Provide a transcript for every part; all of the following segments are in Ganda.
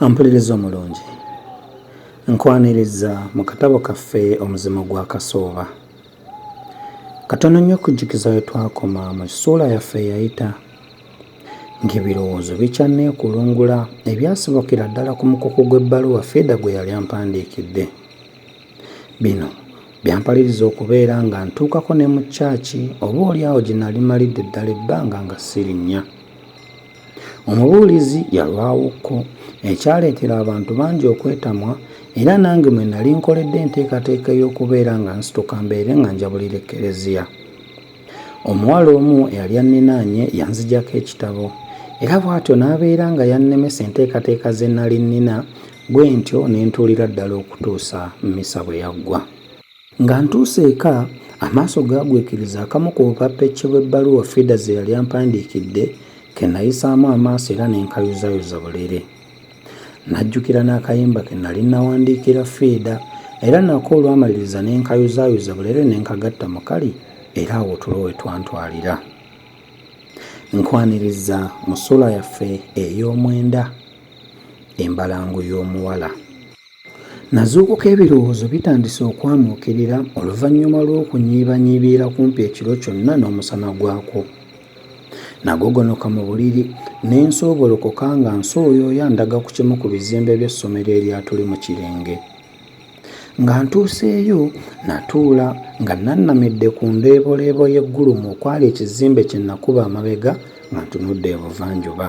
Ampuliriza omulungi nkwaniriza mu katabo kaffe omuzimu gwa kasooba katono nnyo okujjukiza we twakoma mu kisuula yaffe eyayita ng'ebirowoozo bikyanneekulungula ebyasobokera ddala ku mukuku gw'ebbaluwa fiida gwe yali ampandiikidde Bino byampaliriza okubeera nga ntuukako ne mu kyaki oba oli awo gye nali malidde ddala ebbanga nga sirinnya. Omubuulizi yalwawokko ekyaleetera abantu bangi okwetamwa era nange mwe nali nkoledde enteekateeka ey'okubeera nga nsituka mbeere nga njabulira ekkereziya. Omuwala omu eyali anninaanye yanzigyako ekitabo era bw'atyo n'abeera nga yannemesa enteekateeka ze nali nnina Bwe ntyo ne ntuulira ddala okutuusa mmisa bwe yaggwa. Nga ntuuse eka, amaaso gaagwikiriza akamu ku bupappecce bw'ebbaluwa Fida ze yali ampandiikidde ke nnayisaamu amaaso era ne nkayuzayuza bulere. Najjukira n'akayimba ke nnali nnawandiikira Fida era nako olwamaliriza ne nkayuzaayuza bulere ne nkagatta mu kali era awo tulo we twantwalira. Nkwaniriza mu ssuula yaffe ey'omwenda. embalangu y'omuwala. Nazuukuka ebirowoozo bitandise okwamuukirira oluvannyuma lw'okunyiibanyiibiira kumpi ekiro kyonna n'omusana gwakwo. Nagogonoka mu buliri ne nsoobolokoka nga nsooyooya ndaga ku kimu ku bizimbe by'essomero eryatuli mu kirenge. Nga ntuuseeyo natuula nga nannamidde ku ndeeboleebo y'eggulumu okwali ekizimbe kye nakuba amabega nga ntunudde ebuvanjuba.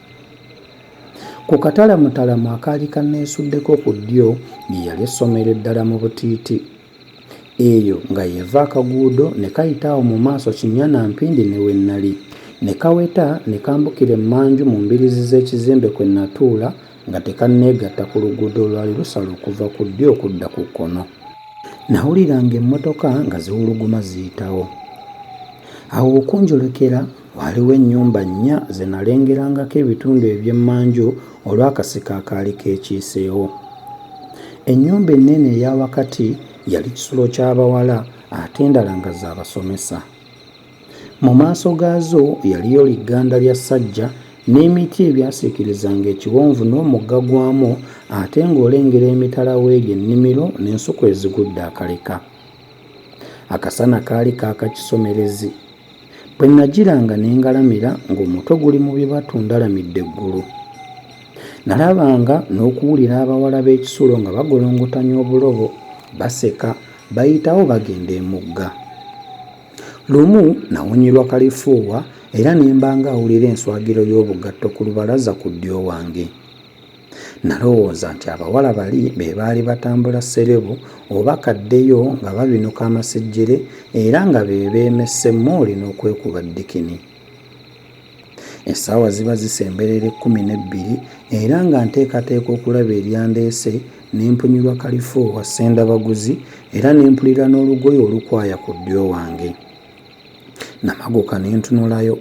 Ku katalaamutalamu akaali kanneesuddeko ku ddyo ye yali essomero eddala mu butiiti. Eyo nga y'eva akaguudo ne kayita awo mu maaso kinnya na mpindi ne we nnali, ne kaweta ne kambukira emmanju mu mbiriizi z'ekizimbe kwe nnatuula nga tekanneegatta ku luguudo olwali lusala okuva ku ddyo okudda ku kkono. Nawuliranga emmotoka nga ziwuluguma ziyitawo. Awo we kunjolekera Waaliwo ennyumba nnya ze nalengerangako ebitundu eby'emmanju olw'akasiko akaali keekiiseewo. Ennyumba ennene eya wakati yali kisulo ky'abawala ate endala nga za basomesa. Mu maaso gaazo yaliyo ligganda lya ssajja n'emiti ebyasiikirizanga ekiwonvu n'omugga gwamu ate ng'olengera emitala w'eri ennimiro n'ensuku ezigudde akaleka. Akasana kaali kaaka kisomerezi. Bwe nnagiranga ne ngalamira ng'omutwe guli mu bibatu ndalamidde eggulu. Nalabanga n'okuwulira abawala b'ekisulo nga bagolongotanya obulobo, baseka, bayitawo bagenda emugga. Lumu nawonyerwa kalifuuwa era ne mba ng'awulira enswagiro y'obugatto ku lubalaza ku ddyo wange. Nalowooza nti abawala bali be baali batambula sserebu oba kaddeyo nga babinuka amasejjere era nga be beemesse mmooli n'okwekuba ddikini. Essaawa ziba zisemberera ekkumi n'ebbiri era nga nteekateeka okulaba eryandeese ne mpunyirwa kalifoowa ssendabaguzi era ne mpulira n'olugoye olukwaya ku ddyo wange. Namaguka ne ntunulayo.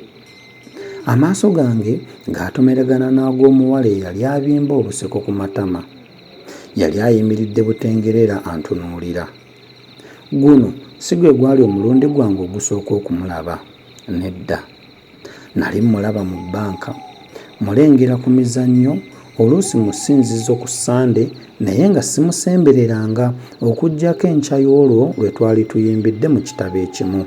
Amaaso gange ng'atomeregana n'ag'omuwala eyali abimba obuseko ku matama. Yali ayimiridde butengerera antunuulira. Guno si gwe gwali omulundi gwange ogusooka okumulaba. Nedda. Nali mmulaba mu bbanka, mmulengera ku mizannyo, oluusi mu ssinzizo ku Ssande, naye nga simusembereranga, okuggyako enkya y'olwo lwe twali tuyimbidde mu kitabo ekimu.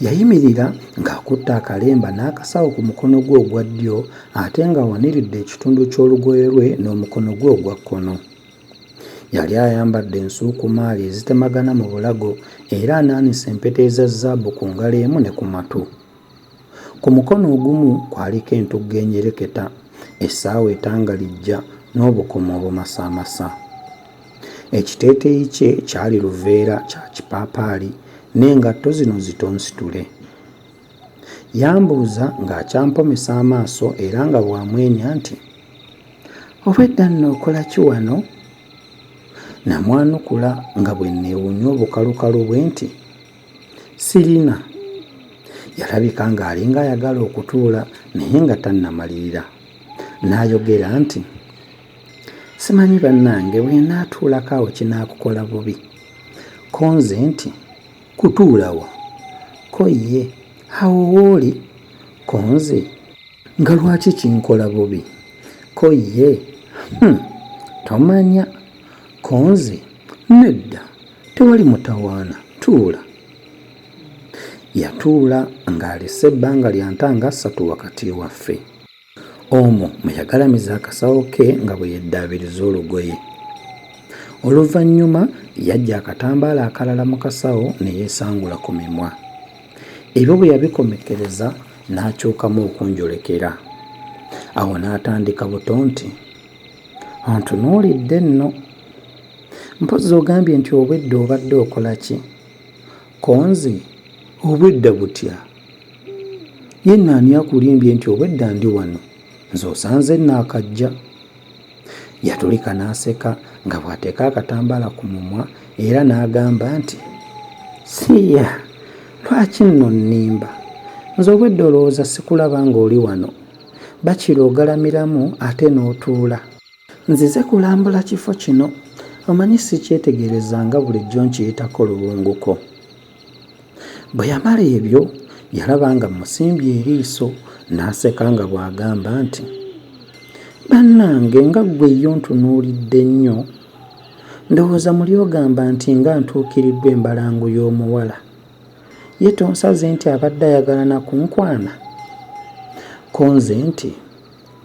Yayimirira ng'akutte akalemba n'akasawo ku mukono gwe ogwa ddyo ate ng'awaniridde ekitundu ky'olugoye lwe n'omukono gwe ogwa kkono. Yali ayambadde ensuukumaali ezitemagana mu bulago era anaanise empeta eza zzaabu ku ngalo emu ne ku matu. Ku mukono ogumu kwaliko entugga enyereketa, essaawa etangalijja n'obukomo obumasaamasa. Ekiteeteeyi kye kyali luveera kya kipaapaali n'engatto zino zitonsitule. Yambuuza ng'akyampomesa amaaso era nga bw'amwenya nti, Obwedda nno okola ki wano? Namwanukula nga bwe nneewuunya obukalukalu bwe nti, Sirina. Yalabika ng'alinga ayagala okutuula naye nga tannamalirira. N'ayogera nti, Simanyi bannange bwe naatuulako awo kinaakukola bubi. Ko nze nti, Kutuula wa? Ko ye, Awo w'oli? Ko nze, Nga lwaki kinkola bubi? Ko ye, Hum, tomanya. Ko nze, Nedda, tewali mutawaana, tuula. Yatuula ng'alese ebbanga lya nta nga ssatu wakati waffe. Omwo mwe yagalamiza akasawo ke nga bwe yeddaabiriza olugoye. Oluvannyuma yaggya akatambaala akalala mu kasawo ne yeesangula ku mimwa. Ebyo bwe yabikomekkereza n'akyukamu okunjolekera. Awo n'atandika buto nti, Ontunuulidde nno. Mpozzi ogambye nti obwedda obadde okola ki? Konzi, obwedda butya? ye nno ani akulimbye nti obwedda ndi wano nze osanze naakajja yatulika n'aseka nga bw'ateeka akatambaala ku mumwa era n'agamba nti siiya lwaki nno nnimba nze obwedda olowooza sikulaba ng'oli wano bakira ogalamiramu ate n'otuula nzize kulambula kifo kino omanyi sikyetegereza nga bulijjo nkiyitako luwunguko Bwe yamala ebyo, yalaba nga mmusimbye eriiso n'aseka nga bw'agamba nti, Bannange nga ggwe ye ontunuulidde nnyo! Ndowooza muli ogamba nti nga ntuukiriddwa embalangu y'omuwala. Ye tonsaze nti abadde ayagala na kunkwana? Ko nze nti,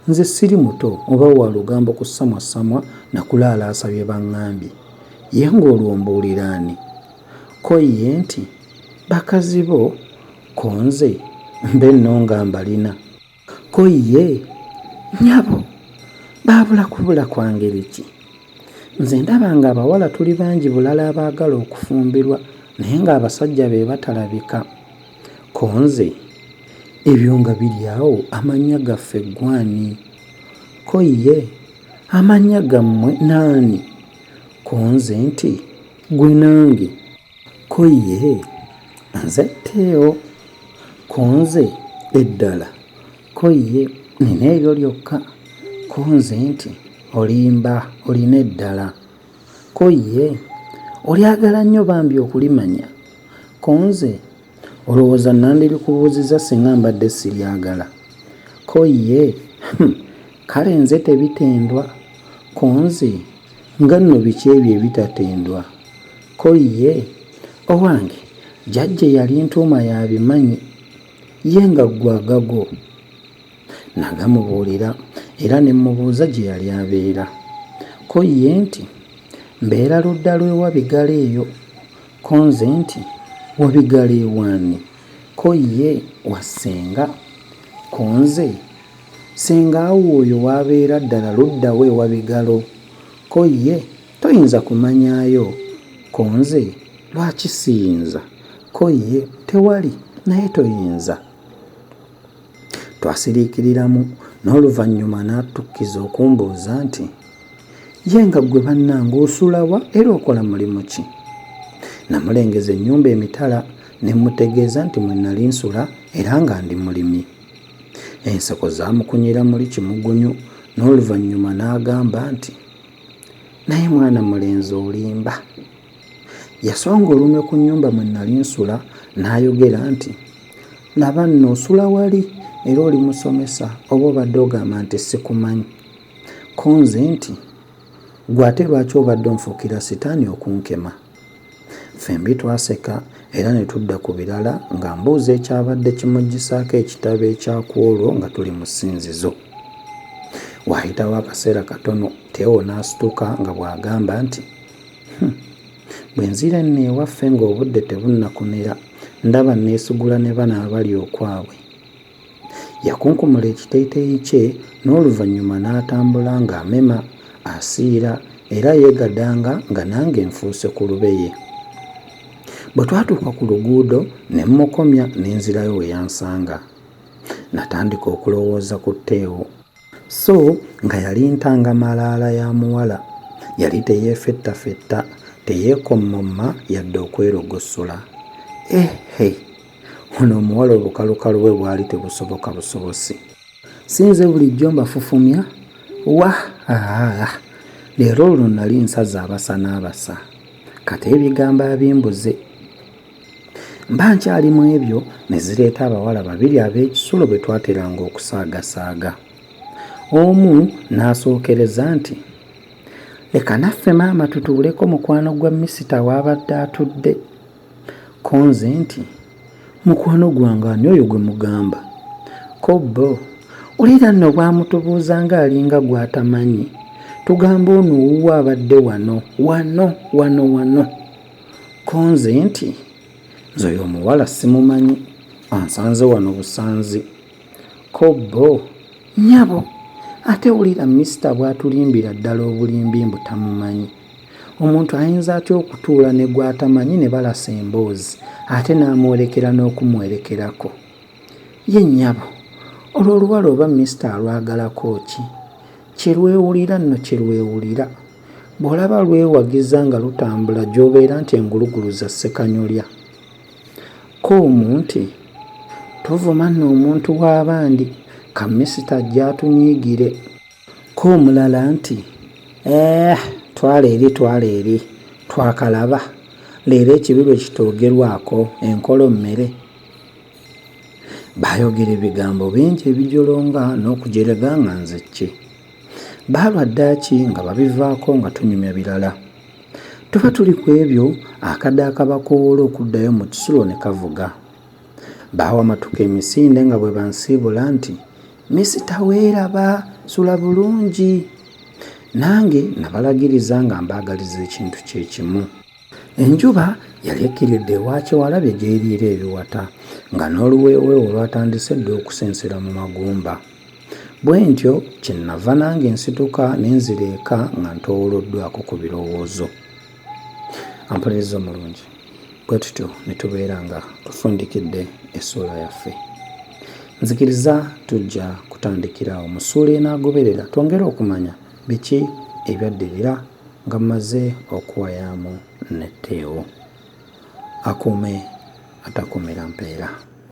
Nze siri muto oba wa lugambo kusamwasamwa na kulaalaasa bye baŋŋambye. Ye ng'olwo mbuulira ani? Ko ye nti, Bakazi bo ko nze mbe nno nga mbalina. Ko ye, Nnyabo, baabula kubula kwa ngeri ki? Nze ndaba ng'abawala tuli bangi bulala abaagala okufumbirwa naye ng'abasajja be batalabika. Ko nze, Ebyo nga biri awo amannya gaffe ggwe ani? Ko ye, Amannya gammwe n'ani? Ko nze nti. Gwe nange ko ye nze teo konze eddala ko ye nina eryo lyokka konze nti olimba olina eddala ko ye olyagala nnyo bambi okulimanya konze Olowooza nandirikubuuzizza singa mbadde siryagala? Ko ye, Hum, kale nze tebitendwa. Ko nze, Nga nno biki ebyo ebitatendwa? Ko ye, Owange, jajja eyalintuuma y'abimanyi. Ye nga ggwe agago? Nagamubuulira era ne mmubuuza gye yali abeera. Ko ye nti, Mbeera ludda lw'e Wabigalo eyo. Ko nze nti, Wabigala ew'ani? Ko ye, Wa ssenga. Ko nze, Ssenga wo oyo w'abeera ddala ludda wa e Wabigalo? Ko ye, Toyinza kumanyaayo. Ko nze, Lwaki siyinza? Ko ye, Tewali, naye toyinza. Twasiriikiriramu n'oluvannyuma n'atukkiza okumbuuza nti, Ye nga ggwe bannange osula wa era okola mulimu ki? Namulengeza ennyumba emitala ne mmutegeeza nti mwe nali nsula era nga ndi mulimi. Enseko zaamukunyira muli kimugunyu n'oluvannyuma n'agamba nti, Naye mwana mulenzi olimba! Yasonga olunwe ku nnyumba mwe nnali nsula n'ayogera nti, Laba nno osula wali era oli musomesa oba obadde ogamba nti sikumanyi? Ko nze nti, Ggwe ate lwaki obadde onfuukira sitaani okunkema? Ffembi twaseka era ne tudda ku birala ng'ambuuza ekyabadde kimuggisaako ekitabo ekya ku olwo nga tuli mu ssinzizo. Waayitawo akaseera katono Teo n'asituka nga bw'agamba nti, Hum. Bwe nzira enno ewaffe ng'obudde tebunnakomera, ndaba nneesugula ne bano abali okwabwe. Yakunkumula ekiteeteeyi kye n'oluvannyuma n'atambula ng'amema, asiira era yeegadanga nga nange nfuuse ku lubeye. Bwe twatuuka ku luguudo ne mmukomya ne nzirayo we yansanga. Natandika okulowooza ku Teo. So nga yali ntanga malaala ya muwala. Yali teyeefettafetta, teyeekommomma yadde okwerogossola. Eh he! Ono omuwala obukalukalu bwe bwali tebusoboka busobosi. Si nze bulijjo mbafufumya? Wah! Aah! Leero luno nali nsaze abasa n'abasa. Kata ebigambo abimbuze. mba nkyali mu ebyo ne zireeta abawala babiri ab'ekisulo bwe twateranga okusaagasaaga omu n'asookereza nti leka naffe maama tutuuleko mukwano gwa misita waabadde atudde ko nze nti mukwano gwange ani oyo gwe mugamba ko bo olira nno bwamutubuuza ng'alinga gw'atamanyi tugamba ono owuwo abadde wano wano wano wano, wano. konze nti nze oyo omuwala simumanyi ansanze wano busanzi kobbo nyabo ate wulira misita bwatulimbira ddala obulimbi mbu tamumanyi omuntu ayinza atya okutuula ne gwatamanyi ne balasa emboozi ate n'amwolekera n'okumwerekerako ye nyabo olwo oluwala oba misita alwagalako ki kyerwewulira nno kyerwewulira Bw'olaba lwewagiza nga lutambula gy'obeera nti engulugulu za ssekanyolya. Ko omu nti, Tovuma nno omuntu w'abandi, ka misita ajje atunyiigire. Ko omulala nti, Eeh, twala eri twala eri, twakalaba, leero ekibi lwe kitoogerwako, enkolo mmere. Baayogera ebigambo bingi ebijolonga n'okujerega nga nze ki? Baalwa ddaaki nga babivaako nga tunyumya birala. Tuba tuli ku ebyo akade akabakoowoola okuddayo mu kisulo ne kavuga. Baawamatuka emisinde nga bwe bansiibula nti, Misita weeraba, sula bulungi. Nange nabalagiriza nga mbaagaliza ekintu kye kimu. Enjuba yali ekkiridde ewa Kyewalabye gy'eriira ebiwata nga n'oluweeweewo lwatandise dda okusensera mu magumba. Bwentyo kye nava nange nsituka ne nzira eka nga ntoowoloddwako ku birowoozo. Ampuliriza omulungi, bwe tutyo ne tubeera nga tufundikidde essuula yaffe. Nzikiriza tujja kutandikira awo mu ssuula enaagoberera twongere okumanya biki ebyaddirira nga mmaze okuwayaamu ne Teo. Akuume atakuumira mpeera.